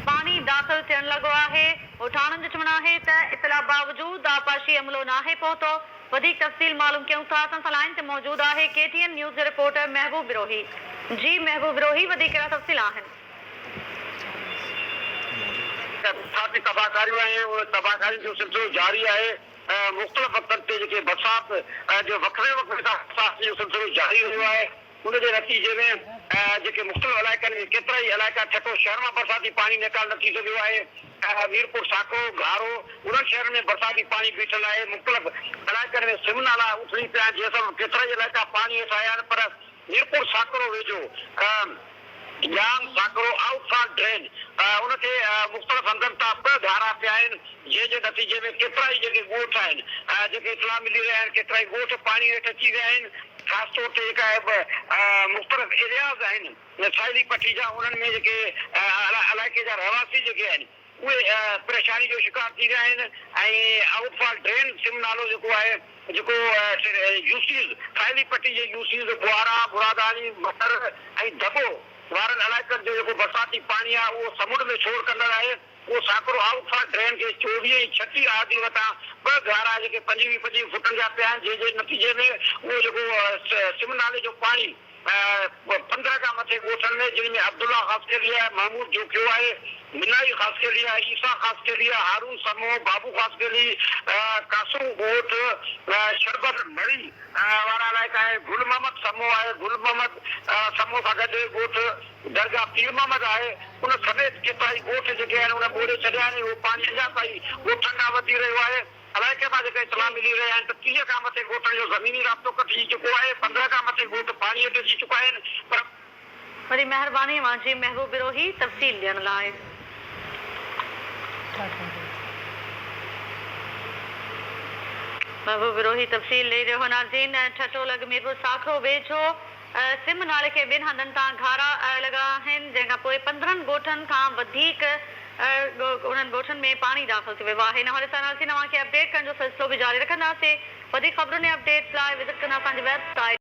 پاڻي داخل ٿيڻ لڳو آهي، ڳوٺاڻن جو چوڻ آهي ته اطلاع باوجود آبپاشي عملو ناهي پهتو، وڌيڪ تفصيل معلوم ڪيون ٿا، اسان سان لائين تي موجود آهي ڪي ٽي اين نيوز جو رپورٽر محبوب بروهي، جي محبوب بروهي وڌيڪ ڪهڙا تفصيل آهن. ڪاٺي تباهڪاريون آهن ان تباهڪارين جو سلسلو جاري آهي ۽ مختلف وقتن تي جيڪي برسات جو وقفي وقفي سان برسات جو سلسلو جاري رهيو آهي. ان جي نتيجي ۾ جيڪي مختلف علائقن ۾ ڪيترائي علائقا ٺٽو شهر مان برساتي پاڻي نيڪال نه ٿي سگهيو آهي ۽ ميرپور ساکو، گهارو انهن شهرن ۾ برساتي پاڻي بيٺل آهي مختلف علائقن ۾ سم نالا اٿلي پيا آهن جنهن سبب ڪيترائي علائقا پاڻي هيٺ آيا آهن پر ميرپور ساکو ويجهو Jam Sakro, outfall drain, ان کي مختلف هنڌن تان ٻه ڌارا پيا آهن، جنهن جي نتيجي ۾ ڪيترائي جيڪي ڳوٺ آهن، جيڪي اطلاع ملي رهيا آهن ڪيترائي ڳوٺ پاڻي هيٺ اچي ويا آهن، خاص طور تي جيڪا مختلف ايرياز آهن ساحلي پٽي جا انهن ۾ جيڪي علائقي جا رهواسي جيڪي آهن. اهي پريشاني جو شڪار ٿي ويا آهن ۽ آئوٽ فال ڊرين سم نالو جيڪو آهي جيڪو يوسيز ٿائلي پٽي جي يوسيز ٻوهارا، مراداڻي، مٽر ۽ دٻو وارن علائقن جو جيڪو برساتي پاڻي آهي اهو سمنڊ ۾ ڇوڙ ڪندڙ آهي اهو ساڪرو آئوٽ فال ڊرين کي چوويهه ۽ ڇٽيهه آر ڊي وٽان ٻه گهارا جيڪي پنجويهه پنجويهه فٽن جا پيا آهن جنهن جي نتيجي ۾ اهو جيڪو سم نالي جو پاڻي پندرهن کان مٿي ڳوٺن ۾، جن ۾ عبدالله خاصخيليء، محمود جوکيو آهي، منائي خاصخيليء، عيسيٰ خاصخيليء، هارون سمو، بابو خاصخيلي، قاسم ڳوٺ، شربت ڀري وارا علائقا آهن، گل محمد سمو آهي، گل محمد سمو سان گڏ ڳوٺ درگاهه پير محمد آهي، ان سميت ڪيترائي ڳوٺ جيڪي آهن ان ٻوڙي ڇڏيا آهن ۽ اهو پاڻي اڃا تائين ڳوٺن ڏانهن وڌي رهيو آهي. علائقي مان جيڪا اطلاع ملي رهيا آهن ته ٽيهه کان مٿي ڳوٺن جو زميني رابطو ڪٽجي چڪو آهي، پندرهن کان مٿي ڳوٺ پاڻي هيٺ اچي چڪا آهن پر. وڏي مهرباني مانجهي محبوب بروهي تفصيل ڏيڻ لاء. محبوب بروهي تفصيل ڏئي رهيو هو ناظرين ٺٽو لڳ ميرپور ساکرو ويجهو. سم نالي کي ٻن هنڌن تان گهارا لڳا آهن، جنهن کان پوء پندرهن ڳوٺن کان وڌيڪ انهن ڳوٺن ۾ پاڻي داخل ٿي ويو آهي. ان حوالي سان اسين اوهان کي اپڊيٽ ڪرڻ جو سلسلو به جاري رکنداسين. وڌيڪ خبرن ۽ اپڊيٽس لاء وزٽ ڪندا اسان جي ويب سائيٽ.